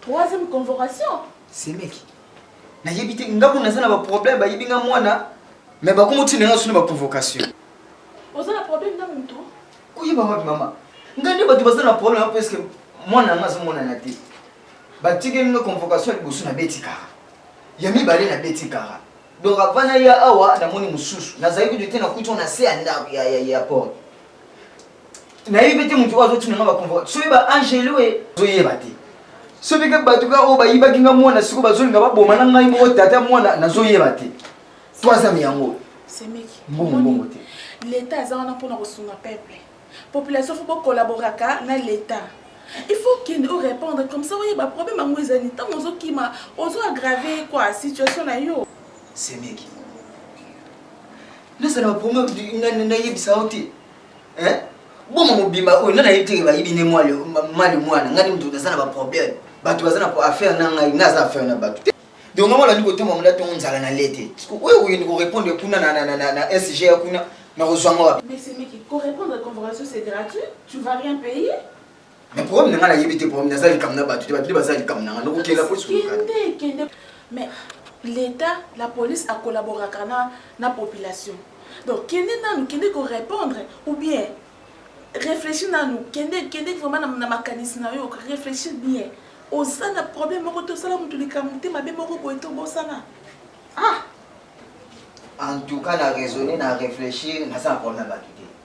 Troisième convocation. Semeki. Na yebi te nga kuna naza na ba problème bayebi nga mwana mais bakomo tina nga suna ba convocation. Oza na problème na mutu? Koyeba wapi mama? Nga nde bato baza na problème na presque mwana nga azomonana te. Batikeli nga convocation liboso na beti kara. Ya mibale na beti kara. Donc avant na ya awa namoni mususu. Nazali kutu te na kutu na se ya ndako ya ya ya porte. nayebi te motu oyo azotinanga baconvoka soki ba angelo e zoyeba te soki kaka bato kaka oyo bayibaki nga mwana siko bazolinga baboma na ngai moko tata mwana nazoyeba te to azami yango semeki mbongo mbongo te leta aza wana mpona kosunga peuple population fo bokolaboraka na leta il faut kende o répondre comme ça oyeba problème yango ezali ntango ozokima ozo aggrave kua situation na yo semeki nazala baproblème nayebisa yo te hein bongo mobimba oyo nana yebi teke bayibi nde mwali mali mwana ngai moto naza na baproblème bato baza na affaire na ngai ngai aza affaire na bato te donc ngai molandi kotomba mola ntongo nzala na le te oyo kokende korépondre kuna na sg ya kuna nakozwa ngo wapi mais problème na nga na yebi te problème naza likambo na bato te bato nde baza likambo na nga nokokela po kende kende mais l'état la police a collaboraka na na population donc kende nanu kende ko répondre ou bien réfléchis nanu kende kende vraiment na, na makanisi na yo réfléchis bien oza na problème moko te osala motu likambo te mabe moko boye te obosana ah en tout cas na raisonne na réfléchir naza na problème na bato te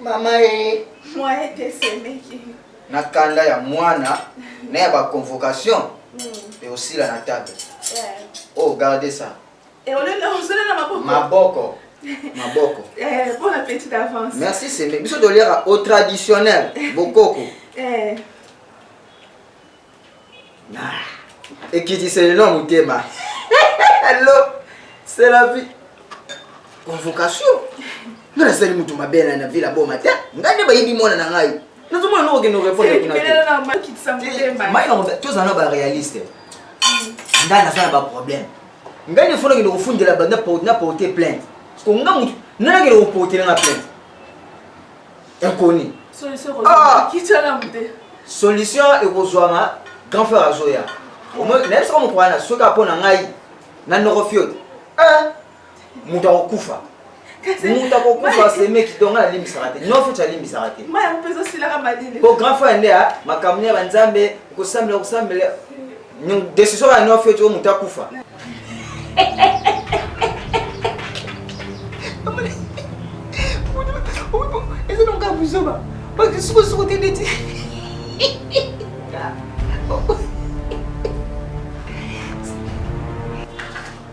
Mama ee. Mwa ete esemeki. Na kanda ya mwana na ya ba convocation mm. eosila na table yeah. oh garde ça et au lieu de osala na maboko maboko maboko eh bon appétit d'avance merci c'est biso toliaka au traditionnel bokoko eh Ah, ekitisa lelo motema allo c'est la vie convocation nga nasali moto mabe na na vile aboma te nga nde bayibi mwana na ngai nazomona noko kende orepondre kuna te mai na tozala na baréaliste nga naza na baproblème ngai nde fona kende kofundela banda na porte plainte sko nga motu nana kende koportela nga plainte inconnue solution ko ah! kitcha la mute solution ekozwama grand frère azoya nayebi soko moto wana soki apo na ngai na noko fiote eh, moto akokufa moto akokufa semeki donga nalimbisaka te no fiote alimbisaka te po grand frère nde makambo ya banzambe kosambela kosambela Decision ya no fete oyo moto akufa. Eza na ngai buzoba. Baki suko suko te ndeti.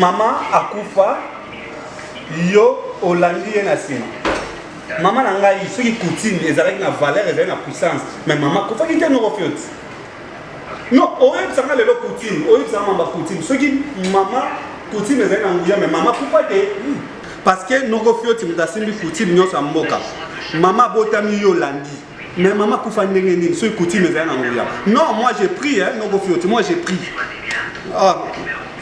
mama akufa yo olandi ye na nsima mama na ngai soki coutume ezalaki na valeur ezali na puissance mais mama akufaki te noko fioti non oyebisa nga lelo coutume oyebisa nga mamba coutume soki mama coutume ezali na nguya mais mama akufa te parce que noko fioti moto asimbi coutume nyonso ya mboka mama abotami yo olandi mais mama akufa ndenge nini soki coutume ezali na nguya non moi j'ai pris hein, noko fioti moi j'ai pris ah,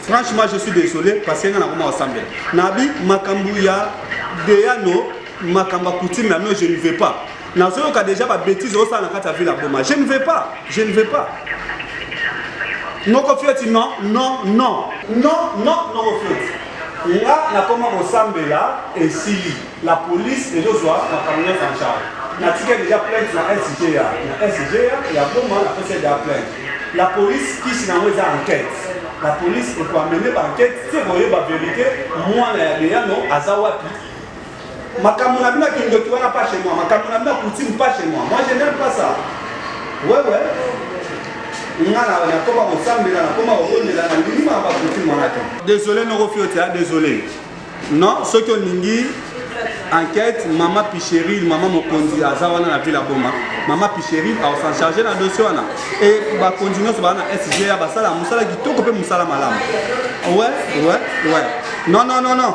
franchement je suis désolé parce que nga nakoma kosambela nabi makambo ya deyano makambo ya coutume ya no je ne veux pas nazoyoka deja ba bêtise osala na kati ya ville ya boma je ne vais pas je ne vais pas noko fioti non non non non non noko fioti nga nakoma kosambela esili la police ezozwa makambo nyonso en charge natika deja plainte na sga na sga ya boma napesa deja plainte la police kisi nango eza enquête la police ekoamene ba enquête te koyeba verité mwana ya leyano aza wapi makambo na bino ya kindoki wana pas chez moi makambo na bino ya coutume pas chez moi moi je n'aime pas ça ouais ouais nga na nakoma kosambela nakoma kokondela na ndimi ma bakuti mwana te désolé noko fioti a désolé non soki olingi enquête mama picheril mama mokonzi aza wana na ville ya boma mama picheril aosan charge na dossier wana e bakonzi nyonso baa na sga basala mosala kitoko mpe mosala malamu we we we non non non non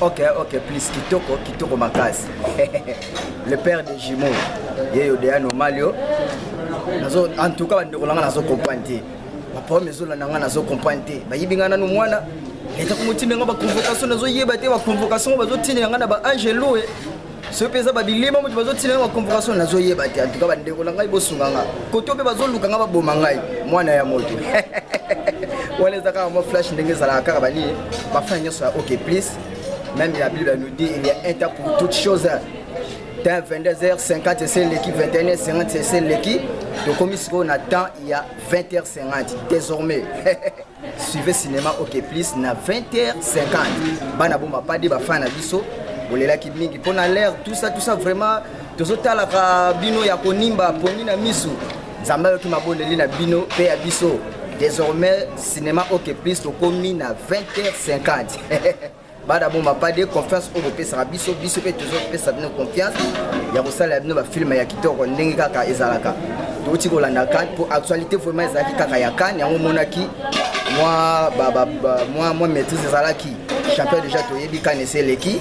Ok, ok, please, kitoko, kitoko makasi. Le père des jumeaux, yeyo de anomalio. Nazo, en tout cas, bandeko nanga nazo comprendre te. Ba problème ezo landa nga nazo comprendre te. Ba yibi nga nanu mwana. Leta ko motimenga ba convocation nazo yeba te ba convocation bazo tinela nga na ba angelo. soki mpe eza babilima moto bazotina yango baconvocation nazoyeba te antuka bandeko na ngai bosunga nga koto mpe bazoluka nga baboma ngai mwana ya moto wana eza kaka mwa flash ndenge ezalaka kaka banie bafana nyonso ya ok plus même la bible nous dit il y a un temps pour toute chose temps 22h50 ese eleki 21h50 ese eleki tokomi sikoyo na temps ya 20h50 désormais suivez cinéma ok plus na 20h50 bana boma pade bafana na biso bolelaki mingi mpo na l'air tout ça tout ça vraiment tozotalaka bino ya konimba pongi na misu nzambe ayoki mabondeli na bino mpe ya biso désormais cinéma ok plus tokomi na 20h50 bada boma pas de confiance oyo bopesaka biso biso mpe tozopesa bino confiance ya kosalela bino bafilme ya kitoko ndenge kaka ezalaka touti kolanda kane mpo actualité vraiment ezalaki kaka ya kane yango omonaki mwa, ba, ba, ba, mwa, mwa maîtrise ezalaki champion déjà toyebi kane esi eleki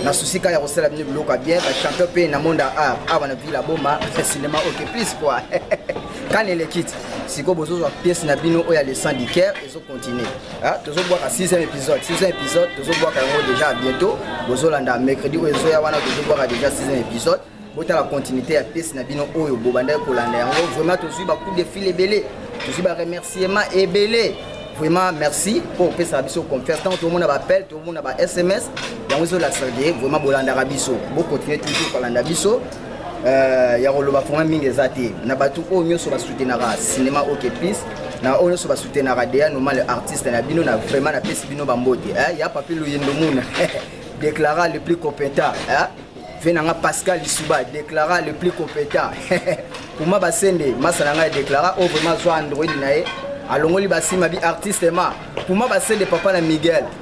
na susi kaka ya kosala bino biloko ya bien bachampion mpe na monde ya art awa na ville ya boma cinéma oke plus kua kane elekiti sikoyo bozozwa pièce na bino oyo ya le sang du caire ezocontinue Ah, tozobwaka 6e épisode 6e épisode tozobwaka yango déjà bientôt bozolanda mercredi oyo ezoya wana tozobwaka déjà 6e épisode botala continuité ya pièce na bino oyo bobandaki kolanda yango vraiment tozwi bacoup de fil ebele tozwi baremerciement ebele vraiment merci mpo opesaka biso confiance ntango tomona baappel tomona ba sms yango ezolakisa ke vraiment bolandaka biso bocontinue toujours kolanda biso Euh, ya koloba fona mingi eza te na bato oyo nyonso basutenaka cinéma ok plus na oyo nyonso basutenaka deya normal artiste na bino na vraiment napesi bino bambote eh, ya papi luyendo muna déclara le plus compétent eh? ve na nga pascal lisuba déclara le plus compétent puma basende masa na ngai déclara oyo oh, vraiment azwa android na ye alongoli basima bi artiste ma puma basende papa na miguel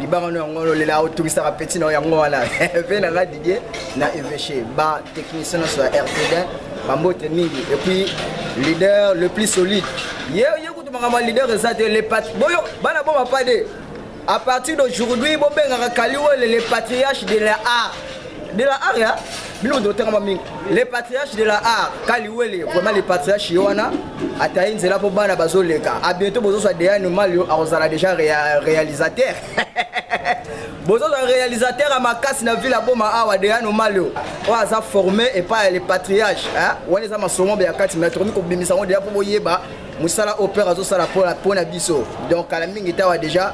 libanga no yango lolela otungisaka peti na yango wana mpe na nga didie na eveche ba technicien nyonso ya rtd bambote mingi epuis leader le plus solide ye ye kutu makambo ya leader eza te boyo bana boma pa de à partir d'aujourd'hui bobengaka kaliwele le patriarche de la art de la art ya bino moto otangama mingi le patriarche de la art kaliwele vraiment le patriarche ye wana atayi nzela mpo bana bazoleka a bientôt bozozwa deane malio akozala déjà rea, réalisateur bozozwa réalisateur ya makasi na ville aboma awa deane malio oyo aza formé epai ya le patriarche wana eza masomombe ya kati me tokomi kobimisa yango deja mpo boyeba mosala opere azosala mpo na biso donc kala mingi tawa deja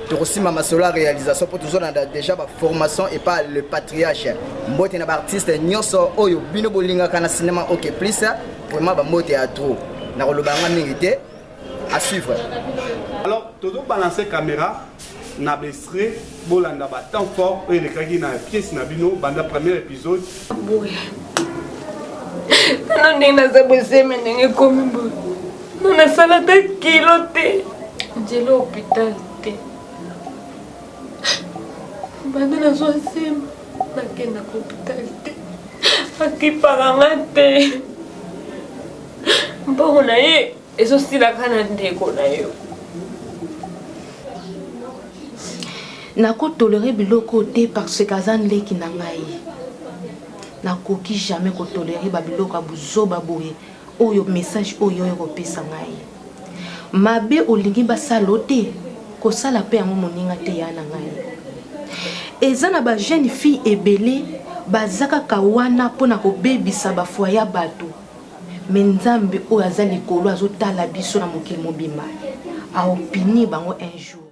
tokosimba masolo ya réalisation mpo tozolanda déjà baformation epa le patriarche mbote na baartiste nyonso oyo bino bolingaka na cinéma ok plus vraiment bambote ya trop nakoloba yanga mingi te à suivre alors tozobalancer caméra na bestre bolanda batemp fort oyo elekaki na pièce na bino banda premier épisode boye tano ndenge naza boseme ndenge ekomi boye Nga nasalaka kilo te. Nzela hopital te. Banda nazwa nsima nakendaka hopital te. Akipaka nga te. Mbongo na ye ezosilaka na ndeko na yo. nakotolere biloko te parce que aza ndeki na ngai nakoki jamais kotolere babiloko ya buzoba boye Oyo message oyo oye kopesa ngai mabe olingi basala yo te kosala mpe yango moninga te ya na ngai eza na ba jeune fille ebele baza kaka wana mpo na kobebisa bafwa ya bato me nzambe oyo aza likolo azotala biso na mokili mobimba aopini bango un jour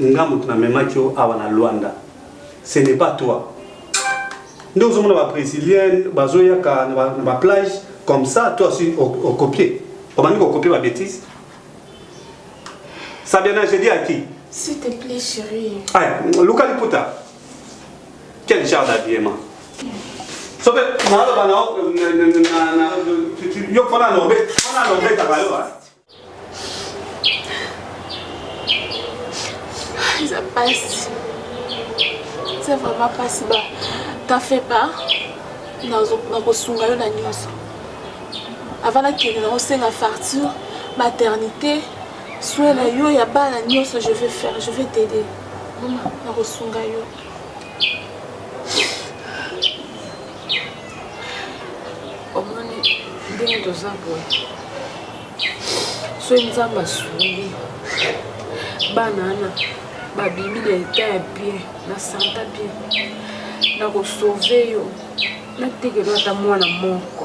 nga mutu na memaki yo awa na Luanda ce n'est pas toi nde ozomona ba brésilienne bazoyaka na ba plage comme ça toi aussi okopie obandi kokopie ba bêtise sabiana je dis à qui s'il te plaît chérie ay luka liputa quel genre d'habillement soki naloba na yo fana nobetaka yo eza pasi eza vraiment pasi ba t'en fait pas nakosunga yo na nyonso avant nakende nakosenga facture maternité soin na yo ya bana nyonso je vais faire je vais t'aider nakosunga yo omoni ndenge toza boye soki nzambe asungi bana wana babimi na eta ya bien na santa bien na kosauve yo natekelo ata mwana moko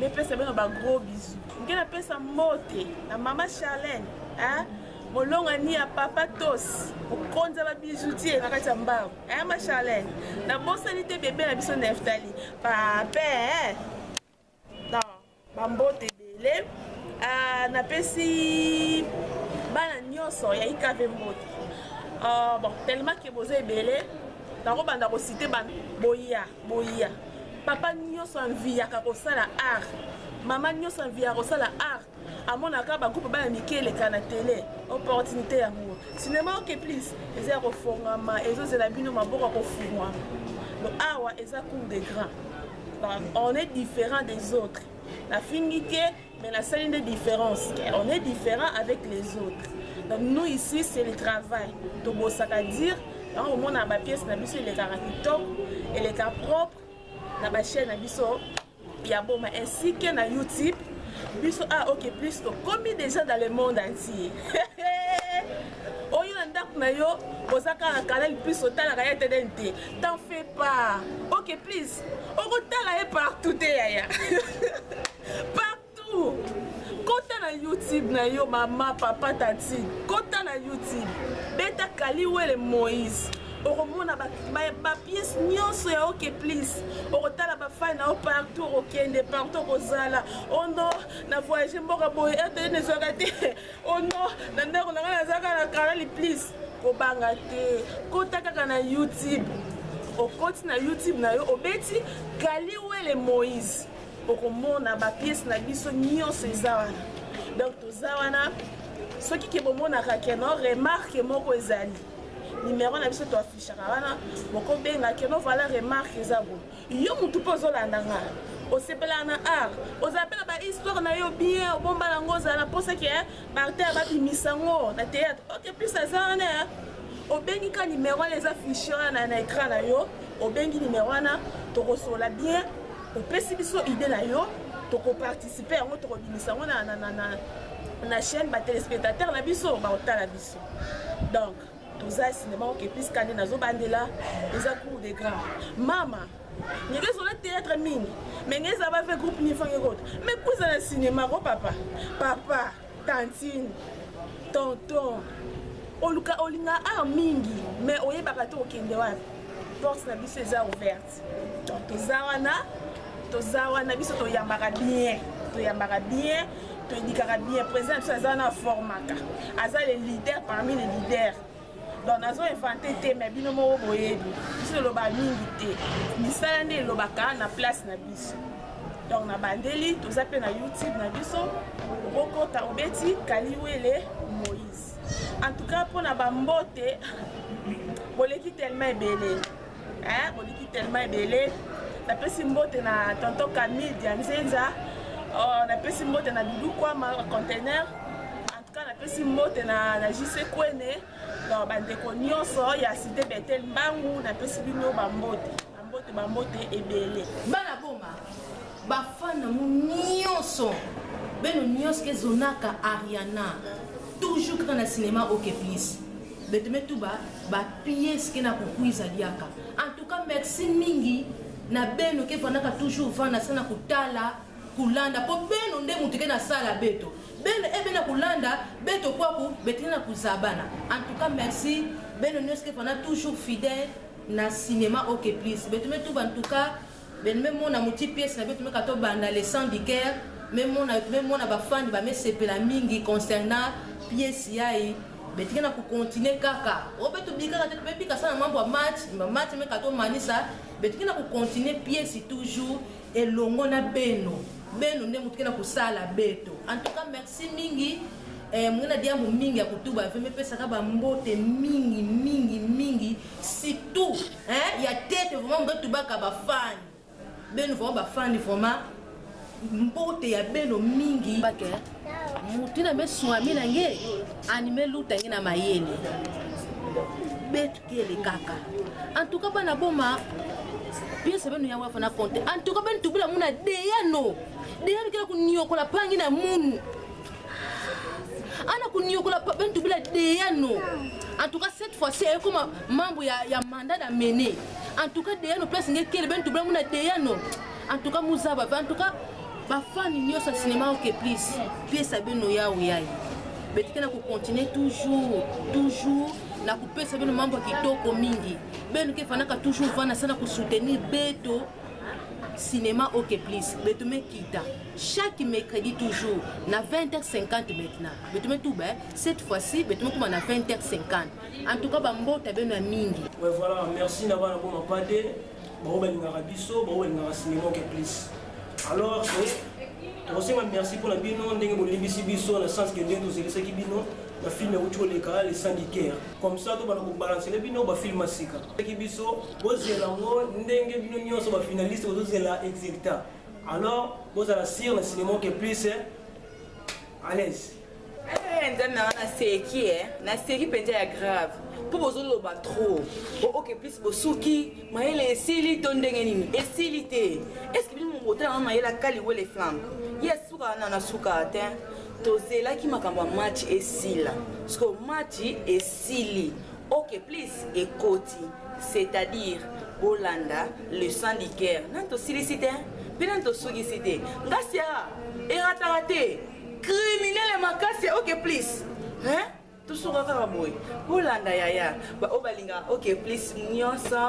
mepesa bino ba gros bisous nge napesa mbote na mama charlene hein? molonga ni ya papa tos mokonzi ya babijoutier na kati ya mbango hein, ma charlene nabosani te bebe na biso neftali pape hein? na bambote ebele uh, napesi bana nyonso ya ikave mbote uh, bon tellement ke boza ebele nakobanda kosite bana boya boya papa nyonso anviyaka kosala art mama nyonso anviyaka kosala art amonaka bagroupe bana mike eleka na tele opportunité yango sinema oke plus eza ya kofongama ezozela bino maboko ya kofungwa lo awa eza cour de grand on est différent des autres nafingi te mais la seule une différence on est différent avec les autres donc nous ici c'est le travail tobosaka dire yango omona bapièce na biso elekaka kitoko eleka propre na bachaine na biso ya boma ainsi que na youtube biso a ah, ok plus tokomi déjà dans le monde entier oyo na ndako na yo oza kaka kanal plus otalaka ye te neni te t'en fais pas ok please okotala ye partout te yaya partout kota na youtube na yo mama papa tati kota na youtube beta kaliwele moïse okomona bapiese ba, ba nyonso ya oke plis okotala bafai na yo partout okokende partout okozala ono oh na voyage mboka boye etele nezwaka te ono oh na ndako na ngai nazalaka na kanali plis kobanga te kota kaka na youtube okoti na youtube na yo obeti kaliwele moïse okomona bapiese na biso nyonso eza wana donc toza wana soki ke bomonaka keno remarke moko ezali nimero na biso toafishaka wana bokobenga keno vala remarke eza bo yo motu mpe ozolanda nga osepelaka na art ozala mpe na bahistoire na yo bien obomba yango ozala na mposa ke eh, baartere babimisa yango na théâtre ok plus aza wana eh. obengi ka nimero wana eza fichier wana na écran na yo obengi nimero wana tokosola bien opesi biso idée na yo tokoparticipe yango tokobimisa yango na, na, na, na, na chaîne batelespectateur na biso bakotala biso donc toza sinema oke piska nde nazobandela eza cour de grand mama ndenge ezola théâtre mingi me nge eza bave groupe nifange kota me kuza na sinema ko papa papa tantine tonton oluka olinga art mingi me oyebaka te okende wapi porte na biso eza ouverte toza wana toza wana biso toyambaka bien toyambaka bien toyedikaka bien président biso aza wana aformaka aza le leader parmi les leaders donc nazo invente te mais bino moko boyebi biso toloba mingi te misala nde elobaka na place na biso donc nabandeli toza mpe na youtube na biso okokota obeti kaliwele moïse en tout cas mpo na bambote boleki tellement ebele eh, boliki tellement ebele napesi mbote na tonto camille dianzenza oh, napesi mbote na dudu kwama container en tout cas napesi mbote na, na jc kwene donc bandeko nyonso ya cité betel mbangu napesi bino bambote bambote bambote ebele bana boma bafana mu nyonso beno nyonso ezonaka ariana toujours kaka na cinéma ok please beteme tuba ba pièces ke na kukuiza diaka en tout cas merci mingi na beno ke vandaka toujours vanda sana kutala kulanda po beno nde mutu ke na sala beto beno ebe eh, na kulanda beto kwaku betene na kuzabana en tout cas merci beno nyoske vanda toujours fidèle na cinéma ok please beteme tuba en tout cas Ben me mona muti pièce na bitu meka to banda le sang du cœur me mona me mona ba fans ba mesepela mingi concernant pièce yayi betika na ku continuer kaka obe to bikaka te be bika sana mambo ya match ma match meka to manisa betika na ku continuer pièce toujours elongo na beno beno nde mutu kena kusala beto en tout cas merci mingi eh, mungina diambu mingi ya kutuba ve mepesaka bambote mingi mingi mingi Surtout hein ya tete vraiment mbe tubaka ba fan. Beno vraiment ba fan vraiment mbote ya beno mingi. Bake mutu na meswami na nge anime luta nge na mayele betkele kaka en tout cas bana boma piese beno yango afana compte en tout cas beno tubula muna deyano deyano kela kuniokola pangi na munu ana koniokola pabe ntubila deyano en tout cas cette fois ci ekoma membre ya, ya mandat da mene en tout cas deyano place nge kele be ntubila muna deyano en tout cas muzaba en tout cas bafani nyonso ya sinema oke please pesa bino yawe yaye betike na kocontinue toujours toujours na kopesa bino mambo ya kitoko mingi beno ke efandaka toujours vana sana kosoutenir beto cinéma ok please betume kita chaque mercredi toujours na 20h50 maintenant betume tuba eh? cette fois-ci betume kuma na 20h50 en tout cas bambota beno ya mingi ouais, voilà merci na bana boma pate bango balingaka biso bango balingaka cinéma ok please alors tokosenga merci mpo na bino ndenge bolimbisi biso na sens ke ndenge tozelisaki bino bafilme euti koleka le syndicaire comme ça tobana kobalansele bino bafilme ya sika Ki biso bozela ngo ndenge bino nyonso ba finaliste bozozela exilta alors bozala sire na cinéma ke plus à l'aise eh, nzambe nanga naseki eh. naseki mpenza ya grave mpo bozoloba trop oke plus bosuki mayele esili to ndenge nini esili te eske bino mobotala na mayele akali wele flamme ye asuka wana nasuka te tozelaki makambo ya match esila siko match esili Ok please ekoti c'est à dire bolanda le sang du cœur nani tosilisi te mpe nani tosukisi te ngasi ya erataka te criminele makasi ya ok please hein? tosuka kaka boye bolanda yaya baoyo balingaka ok please nyonso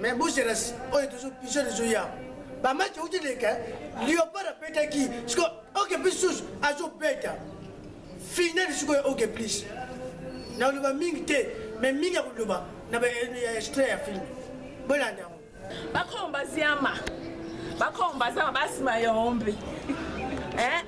mais bozelasi oyo tozo pigeon ezo ya bamaki euti leka leopard abetaki siko oke plus susu azobeta finali sikoyo oke plus nakoloba mingi te mais mingi ya koloba na baextrait ya filme bolanda yango bakomba ziama bakomba zama basima yombe eh?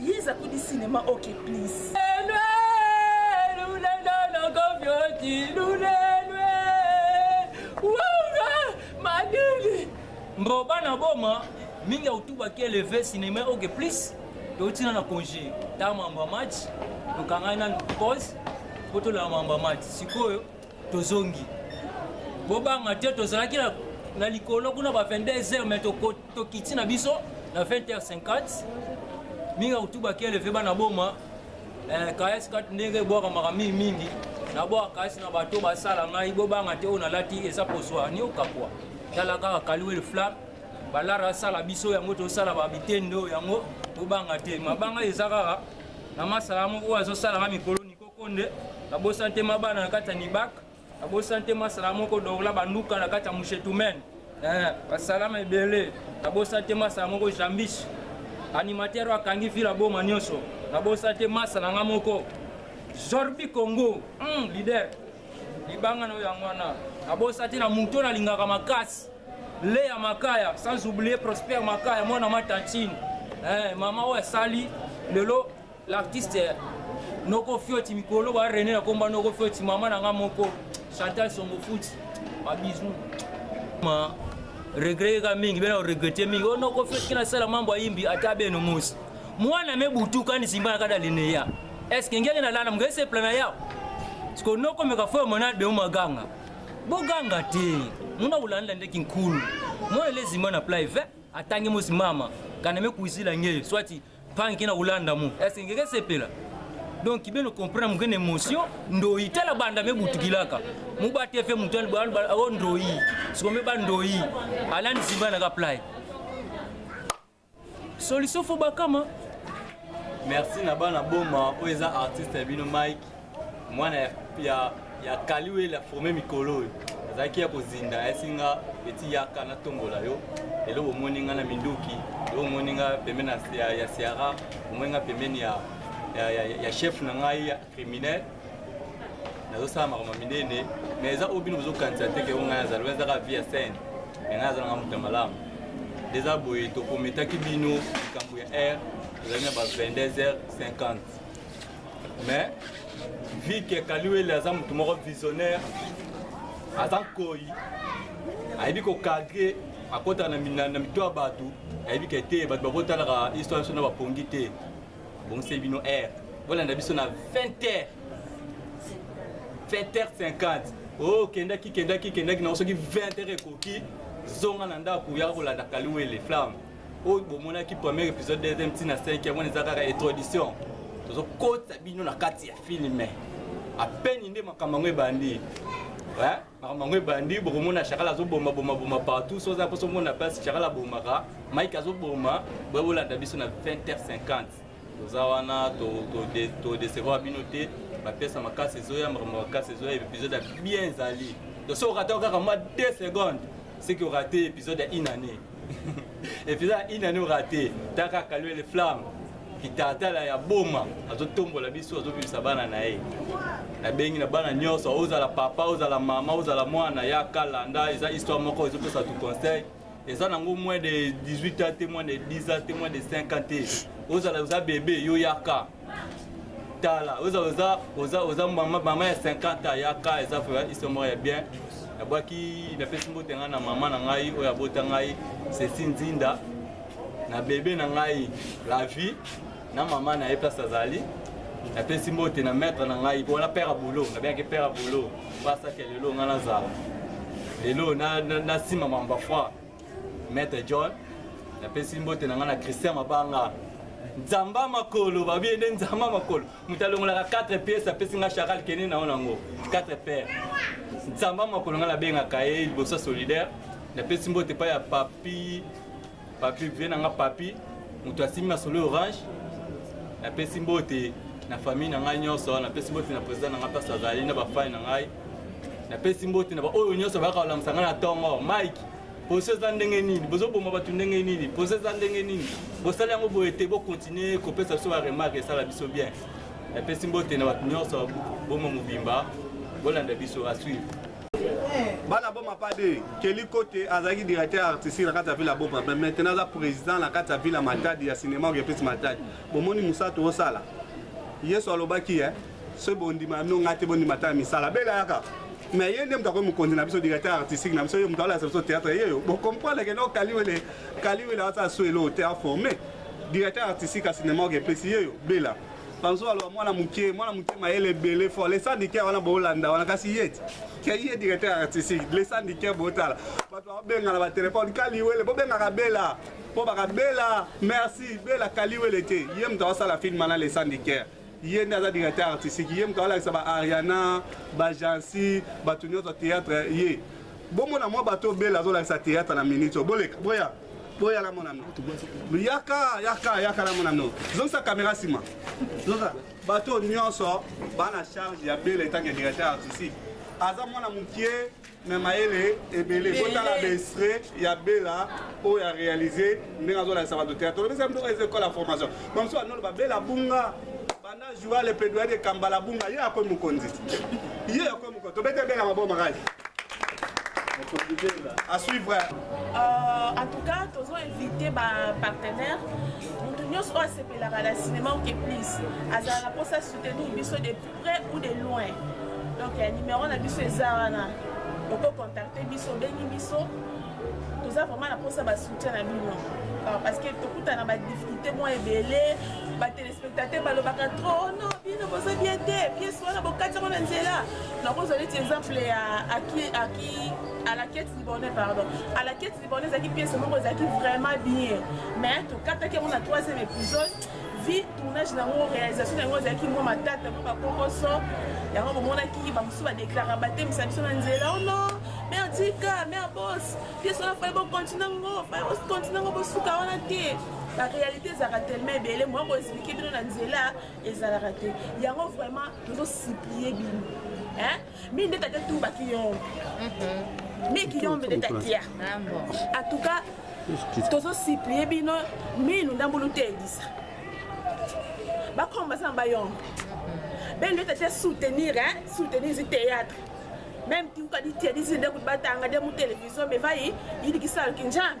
Yes, I could cinema. Okay, please. mboba na boma mingi autubaki eleve cinema oke plus toutina na congé ta mamba match tokangani nanu pause mpo tolala mamba match sikoyo tozongi bobanga te tozalaki na likolo kuna ba 22 heures me tokoti tokiti na biso na 20h50 minga kutuba keleve bana boma eh, kayasi kati ndenge ebwakamaka mingi mingi nabwaka kayasi na bato basala ngai bobanga te oyo nalati eza poswa niokakwa tala kaka kaliwele flam balara asala biso yango tosala babitende oyo yango bobanga te mabanga eza kaka na masala moko oyo azosala nga mikolo nikokonde nabosani te mabana na kati ya nibaka Nabosan te masala moko dorla banduka na kati ya mushetumen eh, basalama ebele. Nabosan te masala moko jambis animateur oyo akangi vila boma nyonso. Nabosan te masala nga moko zorbi congo mm, leader libanga na oyo yango wana. Nabosan te na moto oyo nalingaka makasi leya makaya sans oublier prosper makaya mwana ma tantine eh, mama oyo asali lelo L'artiste Noko Fioti mikolo ba René na komba Noko Fioti mama na nga moko Chantal Songo Futi ba bisous ma regret ka mingi bena regretter mingi oh Noko Fioti kina sala mambo ayimbi ata beno musi mwana me butuka ni simba na kada lineya est-ce que ngeli na lana mngai se plana yao siko noko meka fo mona de maganga boganga te muna ulanda ndeki nkulu mwana lezima na plaive atangi mosi mama kana me kuizila nge swati panke na kolanda mo ese ngeke sepela donc kibeno comprendre moke na émotion ndoyi tala banda me butukilaka mobate fe moto o ndoyi sikome ba ndoyi alani simba na ka play solution fo bakama merci na bana boma oyo eza artiste ya bino mike mwana ya, ya, ya kaliwe la forme mikolo oyo azalaki ya kozinda ayesi nga eti yaka natombola yo lelo bomoni nga na minduki lelo bomoni nga pembeni ya, ya siara bomoni nga pembeni ya, ya, ya, ya chef na ngai ya criminel nazosala makambo minene mais eza oyo bino bozokanisa te ke o ngai azali eza kaka vie ya scène me ngai azalanga moto ya malamu eza boye tokometaki bino likambo ya aire ezali na ba 22 heures 50 mais vu que kaliwele aza motu moko visionnaire aza nkoi ayebi kokadre akota na mito ya bato ayebi ke te bato bakotalaka histoire biso na bapongi te bongise bino air bolanda biso na 20 heure 20 heure 50 o kendaki kendaki kendaki nango soki 20 heure ekoki zonga na ndako yaka kolanda kaliwele flamme oyo bomonaki premier épisode deuxième ti na cinquième wana eza kaka introduction tozokotisa bino na kati ya filme apeni nde makambo yango ebandi makambo yango ebandi bokomona shakala azoboma boma boma partout so oza mposo omona place shakala abomaka mike azoboma boye bolanda biso na 20h50 toza wana todecevoir bino te bapesa makasi ezoya makambo makasi ezoya episode ya bien ezali donc soki okatao kaka mwa 2 seconde seki orate episode ya une année episode ya une année orate ta kaka lue le flamme kitatala ya boma azotombola biso azobimisa bana na ye nabengi na bana nyonso ozala papa ozala mama ozala mwana ya kalanda eza histoire moko ezopesa tu conseil eza nango moins de 18 ans te moins de 10 ans te moins de 5 ans te ozala oza bebe yo yaka tala oza oza oza oza mama mama ya 50 ans yaka eza iso moko ya bien nabwaki napesi mbote ngai na mama na ngai oyo abota ngai sesi nzinda na bebe na ngai la vie na mama na ye place azali napesi mbote na maître na ngai mpona père ya bolo nabengaki père ya bolo basaki ya lelo ngai nazala lelo nasima mamba foi maître john napesi mbote na ngai na christian mabanga nzamba makolo babie nde nzamba makolo moto alongolaka 4 pièce apesi ngai charal kende na yo nango 4 père nzamba makolo ngai nabengaka ye liboso solidaire napesi mbote epai ya papi Papi vie na nga papi moto asimbi masolo orange napesi mbote na famille na ngai nyonso napesi mbote na président na ngai mpasi azali na bafani na ngai napesi mbote na baoyo nyonso bayaka kolamusa ngai na ntongo mike poso eza ndenge nini bozoboma bato ndenge nini poso eza ndenge nini bosali yango boye te bokontinue kopesa biso baremarke esala biso bien napesi mbote na bato nyonso boma mobimba bolanda biso asuivre bana boma pas de keli kote azalaki directeur artistique na kati ya ville ya boma mais maintenant aza président na kati ya ville ya matadi ya cinéma ogepesi matadi bomoni mosala toosala yesu alobaki e soki bondima bino ngai te bondima ta ya misala bela yaka mais ye nde moto akoki mokonzi na biso directeur artistique na biso ye moto alakisa biso théâtre yeyo bocomprendre ke no kaliwele kaliwele asala so eloo te aforme directeur artistique ya cinéma ogepesi yeyo bela banzo aloba mwana moke mwana moke mayele ebele fort le syndicat wana boolanda wana kasi ye ti ke ye directeur artistique le syndicat bootala bato babengana batelefone kaliwele bobengaka bela mpo baka bela merci bela kaliwele te ye moto awasala filme wana le syndicat ye nde aza directeur artistique ye moto awalakisa ba ariana bajansi bato nyonso théâtre ye bomona mwa bato bela azolakisa théâtre na minute oyo boleka boya boya la mona no yaka yaka yaka la mona no zongisa kamera nsima zoza bato nyonso bana charge ya bele etanke directeur artistique aza mwana mokie me mayele ebele botala baestre ya bela oyo arealise ndenge azolakisa bato teatre olobisa mto eza ekola formation bamosusu banoloba bela bunga La joie le plaidoyer de Kambala Bunga ye akomi mokonzi ye akomi mokonzi tobete bela maboko makasi à suivre euh, en tout cas tozo invité bapartenaire moto nyonso oyo asepelaka na cinéma oke plus azala na mposa soutenir biso de près ou de loin donc ya numéro na biso eza wana okocontacte biso obengi biso toza vraiment na mposa basoutien na bino parce que tokutana badifficulté mwa ebele spectateur balobaka trop no bino boza bien te pièce wana bokati yango na nzela nakozwa neti exemple ya aki alakete libone pardon alakete libone ezalaki pièce moko ezalaki vraiment bien mais tokataki yango na troisième épisode vie tournage na yango réalisation na yango ezalaki mwa matata mwa bakokoso yango bomonaki bamosusu badeklaraka batemisa biso na nzela ono oh merdika merbos pièce wana fai bokontina yango fai bokontina yango bosuka wana te ba réalité ezalaka tellement ebele moya ko expliquer bino na nzela ezalaka te yango vraiment tozo supplie bino hein mi nde tate tu baki yo mhm. mi ki yo nde tatia ah, en tout cas tozo supplie bino minu ndambulu te elisa bakoma baza na bayombe mhm. bene nde tatia soutenir hein soutenir zi théâtre même tiukadi tiadisi nde kuti batanga nde mu télévision mais vayi yidikisalo kinjambe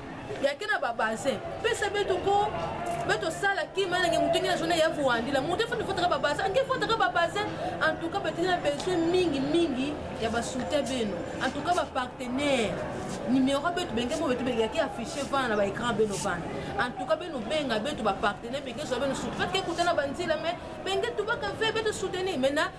yake na babaze pesa beto ko beto sala kima nange moto ngi na zona ya vuandila moto efandi fotaka babaze ange fotaka babaze en tout cas batindi na besoin mingi mingi ya basoutien beno en tout cas bapartenaire numéro beto benge mo beto benge yake affiche vana na baécran beno vana en tout cas beno benga beto bapartenaire benge zwa beno soutien parce que ekutana banzila mais benge tubaka ve beto soutenir maintenant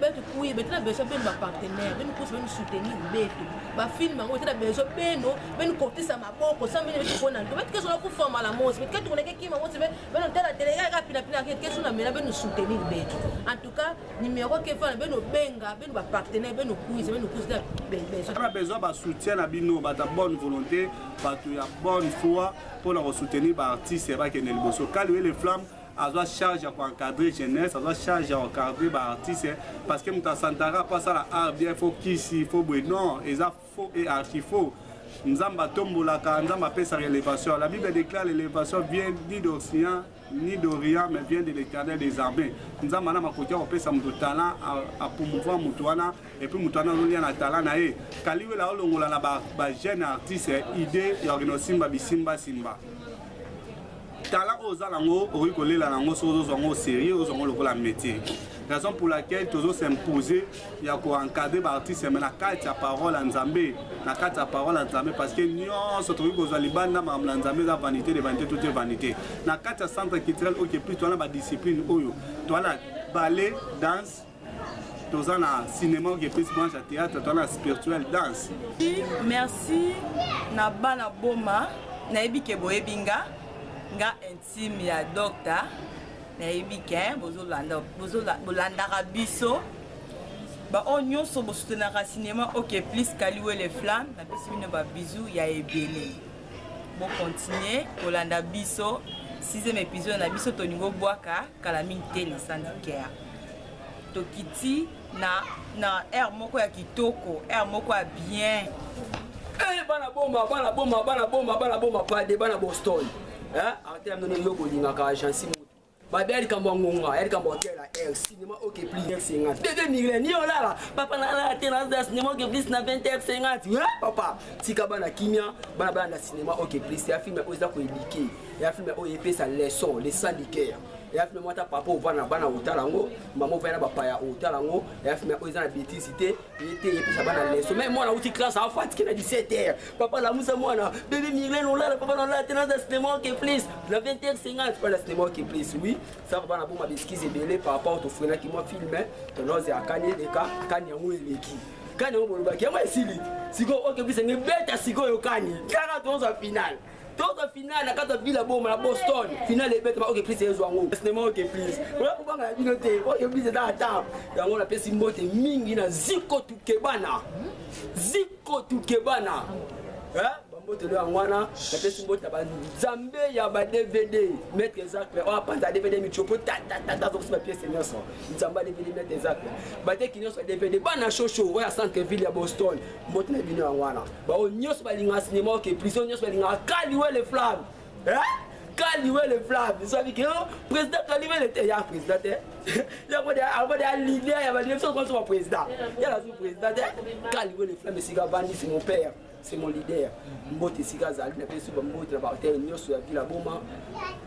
betu kuye beti na besoin beno bapartenaire beni kusa beni soutenir betu bafilme yango beti na besoin beno beni kotisa maboko sa beni beti kona nto beti kesola kufama la mosi beti ketu koneke kima mosi be beno tela tele kaka pina pina ke kesu na mela beni soutenir betu en tout cas numéro ke fana beno benga beno bapartenaire beno kuisa beno kuisa na besoin ba soutien na bino bata bonne volonté bato ya bonne foi mpona kosoutenir baartiste bakende liboso kaliwele flamme azwa charge ya koencadre jeunesse azwa charge ya koencadre baartiste parce que moto asantaka mpo asala art bien fo kisi fo boye non eza faux et archi faux nzambe atombolaka nzambe apesaka élévation la bible déclare l'élévation vient ni d'occident ni d'orient mais vient de l'éternel des armées nzambe ana makoki ya kopesa moto talent apromouvoir moto wana epuis moto wana azolia na talent na ye kaliwela aolongola na bajeune artiste idée ya orinosimba bisimbasimba tala oyo oza nango okoki kolela nango soki ozozwa yango sérieux ozwa yango lokola métier raison pour laquelle tozo s'imposer ya koencadre baartiste me na kati ya parole ya nzambe na kati ya parole ya nzambe parce que nyonso tokoki kozwa libanda makambo na nzambe eza vanité de vanité toute vanité na kati ya centre culturel okeplus towana badiscipline oyo towana bale danse toza na cinéma oyo epesi branche ya théâtre toza na spirituel danse merci na bana boma nayebi ke boyebi nga nga intime ya docta nayebi ke bolandaka biso baoyo nyonso bosutenaka cinéma ok plus kaliwele flamme napesi bino babizou ya ebele bokontinue kolanda biso sixième épisode na biso tolingi obwaka kala mingi te na sandikea tokiti na na air moko ya kitoko air moko ya bien eh, bana boma bana boma bana boma bana boma pade bana boston eh, artele ya mnono yo bolingaka agensi moto babe ya likambo ya ngonga ya likambo ya tela air cinema ok plus air sengati dede migre ni olala papa nalala te naza cinema ok plus na 20 air sengati eh, papa tika bana kimia bana bana na cinema ok plus ya filme oyo eza koedike ya filme oyo epesa leçon le sang du cœur eya filme moko ata papa ovanda na bana otala yango mama ovanda na bapaya otala yango eya filme oyo eza na betise te ye te epesa bana leso mai mwana auti classe afatike na 17 heure papa lamusa mwana bebe mirlene olala papa nalala te naza cinema oke plus na 20 heure 50 pala cinema oke plus oui saka bana boma beskize ebele par rapport tofrenaki mwa filme tonoze akani eleka kani yango eleki kani yango bolobaki yango esili sikoyo oke plus enge beta sikoyo kani kaka tozwa finale tozo finale na kati ya bila boma na boston finale ebetama oke prise ezwa yango sinema oke prise oya kobanga ya bino te oyo prise eza atable yango napesi mbote mingi na ziko tukebana ziko tukebana bambote leo yango wana napesi mbote na banzambe ya ba dvd maître ezacle oyo apanza dvd mitiopo tatatata azokisi bapiese nyonso nzambe ya dvd maître ezacle bateki nyonso ya dvd bana shosho oyo ya centre ville ya boston mbote na bino yango wana baoyo nyonso balingaka sinema oke prison nyonso balingaka kaliwe le flamme kaliwe le flamme esabi ke président kaliwe le te ya président te yango de yango de ya leader ya balie biso konso ba président ya nazo président te kaliwe le flamme esika bandi c'est mon père c'est mon leader mbote esika azali na biso bambote na bahotel nyonso ya vila boma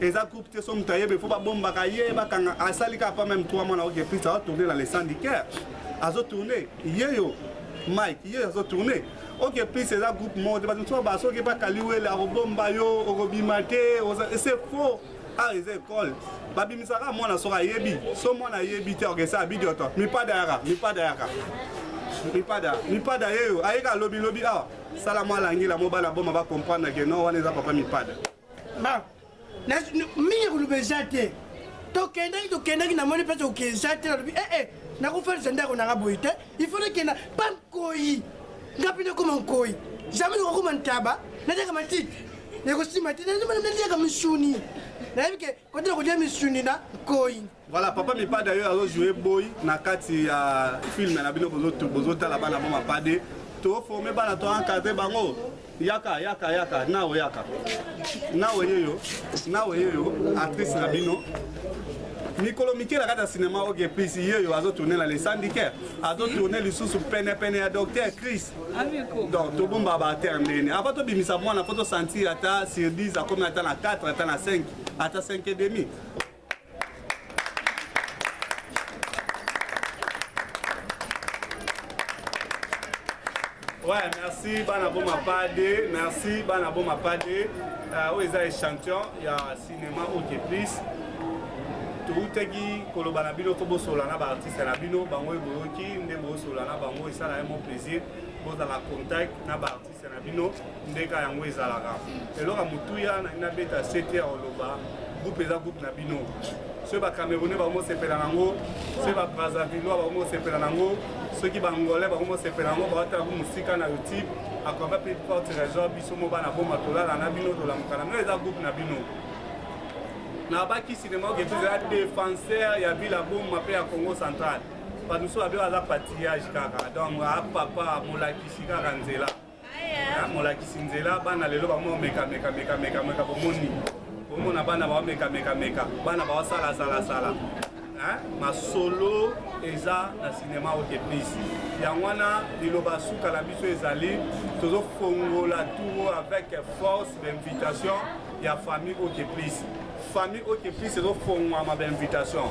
eza groupe te so moto ayebe fo babombaka ye bakanga asali kaka pa meme 3 mois na oke prince azotourne na le syndicaire azotourne yeyo mike yeyo azotourne oke prince eza groupe moko te bato mosusu ba soki bakali wele akobomba yo okobima te c'est faux awa eza ekole babimisaka mwana soki ayebi so mwana ayebi te okesa abidiota mipada yaka mipada yaka mipada mipada yeyo ayeka lobilobi awa sala mwa langila mobala boma bacomprendre ke no wana eza papa mipada mingi koloba eza te tokendaki tokendaki namoni mpe toki eza te nalobi ee eh, eh, nakofelisa ndako nanga boye te il faut nakenda mpa nkoi nga mpe nakoma nkoi jamai nakokoma ntaba natyaka matiti nakosima te natiaka misuni nayebi ke kotela kolia misuni na nkoi Voilà, papa Mipa d'ailleurs azo jouer boy na kati ya film na bino bozo bozo tala bana ba mapade to former bana to encadrer bango yaka yaka yaka nao yaka nao yeyo nao yeyo actrice na bino mikolo mike na kati ya sinema oke plus ye oyo azotourne na lesandiker azotourne lisusu penepene ya docteur chris donc tobomba baatere ndeni ava tobimisa mwana mpo tosentir ata sur 10 akomi ata na 4 ata na 5 ata 5 et demi Ouais, merci bana boma pade, merci bana boma pade. Euh, oyo eza échantillon ya cinéma ok plus toutaki koloba na bino mpo bosola na baartiste na bino bango oyo boyoki nde bosola na bango esala ye mo plaisir bozala contact na baartiste na bino ndeka yango ezalaka eloko ya motuya nalingi nabeta sete ya koloba groupe eza groupe na bino soki bacamerounais bakomosepela nango soki babrazavillois bakomosepela nango soki bangolais bakomosepela nango baotala ku mosika na youtube akoba mpe porte resor biso mo bana boma tolala na bino tolamuka na bino eza groupe na bino nabaki sinema oke tozala defenseur ya vila boma mpe ya congo central Panuso abe aza patillage kaka donc a papa molakisi kaka nzela ah, molakisi nzela bana lelo bamo meka meka meka meka meka bomoni bomona bana bao meka meka meka bana bao sala sala sala masolo eza na sinema oyo te please yango wana liloba suka na biso ezali tozofongola tour avec force d'invitation ya famille oyo te please famille oyo te please ezofongwama bainvitation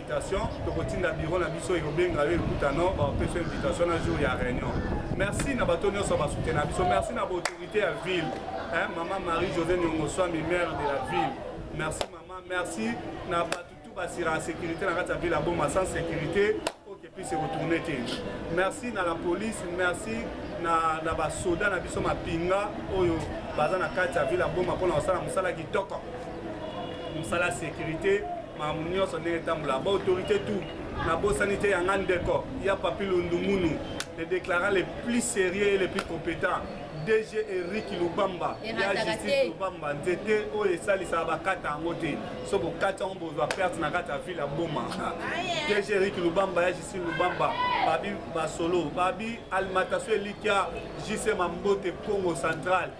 invitation tokotinda biro na biso ekobenga yo ekuta no bapesa invitation na jour ya réunion merci na bato nyonso basute na biso merci na baautorité ya ville hein, mama marie josé niongoswami maire de la ville merci mama merci na bato tu basira ya sécurité na kati ya ville ya boma sans sécurité okepisi ekotourne te merci na la police merci na, na basoda na biso mapinga oyo baza na kati ya ville ya boma mpona kosala mosala kitoko mosala sécurité makambo nyonso ndenge etambola ba autorité tout nabosani te yanga ndeko ya papi lundumunu le déclarant le plus sérieux et le plus compétent dg eric lubamba ya justice lubamba nzete oyo esalisaka bakata yango te so bokati yango bozwa perte na kati ya ville ya boma dg eric lubamba ya justice lubamba babi basolo babi alimentation elikya jc mambote congo centrale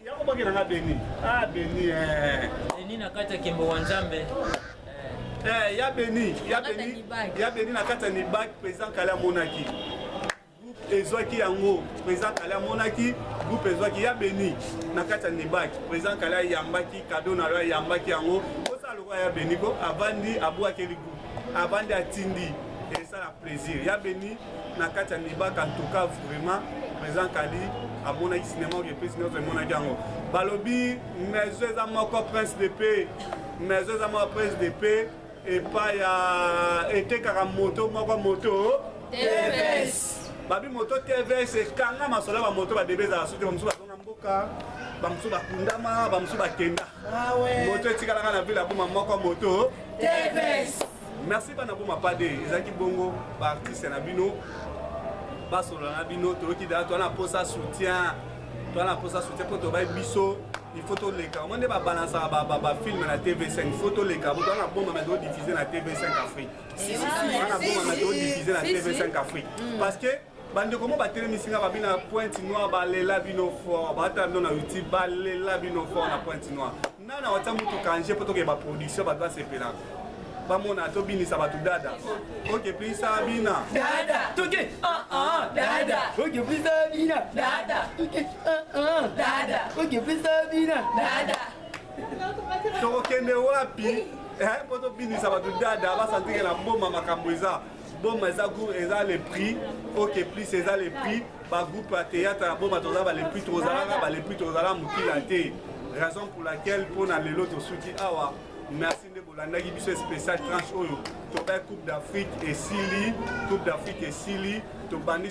Yako bakela nga Beni. Ah Beni eh. Beni na kati ya kembo wa Nzambe. Eh, eh ya Beni, ya Beni. Ya Beni na kati ya Nibak président Kala amonaki. Groupe ezwaki yango, président Kala amonaki, groupe ezwaki ya Beni na kati ya Nibak. Président Kala yambaki cadeau na yo yambaki yango. Kosa lokola ya Beni ko avandi abwakeli groupe. Avandi atindi esala plaisir. Ya Beni na kati ya libaka antuka vraiment président kali amonaki sinema oyo epesi nyonso emonaki yango balobi maison eza moko prince de paix maison eza moko prince de paix epai ya etekaka moto moko moto tvs babi moto tvs ekanga masolo ya bamoto badebe ezala soki bamosusu bazonga mboka bamosusu bakundama bamosusu bakenda ah moto etikalaka na vile ya boma moko moto tvs merci bana boma pade ezalaki bongo baartiste na bino basolola na bino toyoki daa toa na mposa soutien toa na mposa soutien mpo tobai biso il faut toleka mo nde babalansaka bafilme na tv5 il faut toleka bo toana bombama todiffuze na tv5 afrique ana bombama todiffuze na tv5 afrique parce que bandeko mo batelemisi nga babi na pointe noire balela bino fort baata bino na youtube balela bino fort na pointe noire nana watia motuka nje mpo tokee baproduction bato basepela bamona tobinisa bato dada oke plisa bina dada toke ah, ah, dada oke plisa bina dada toke ah, dada oke plisa bina dada tokokende wapi eh, mpo tobinisa bato dada basantike na mboma makambo eza boma eza gour eza le prix ok plus eza le prix bagroupe ya théâtre ya boma toza ba le prix tozalaka ba le prix tozala mokila te raison pour laquelle mpo na lelo tosuki awa merci nde bolandaki biso spécial tranche oyo tobai coupe d'afrique esili coupe d'afrique esili tobandi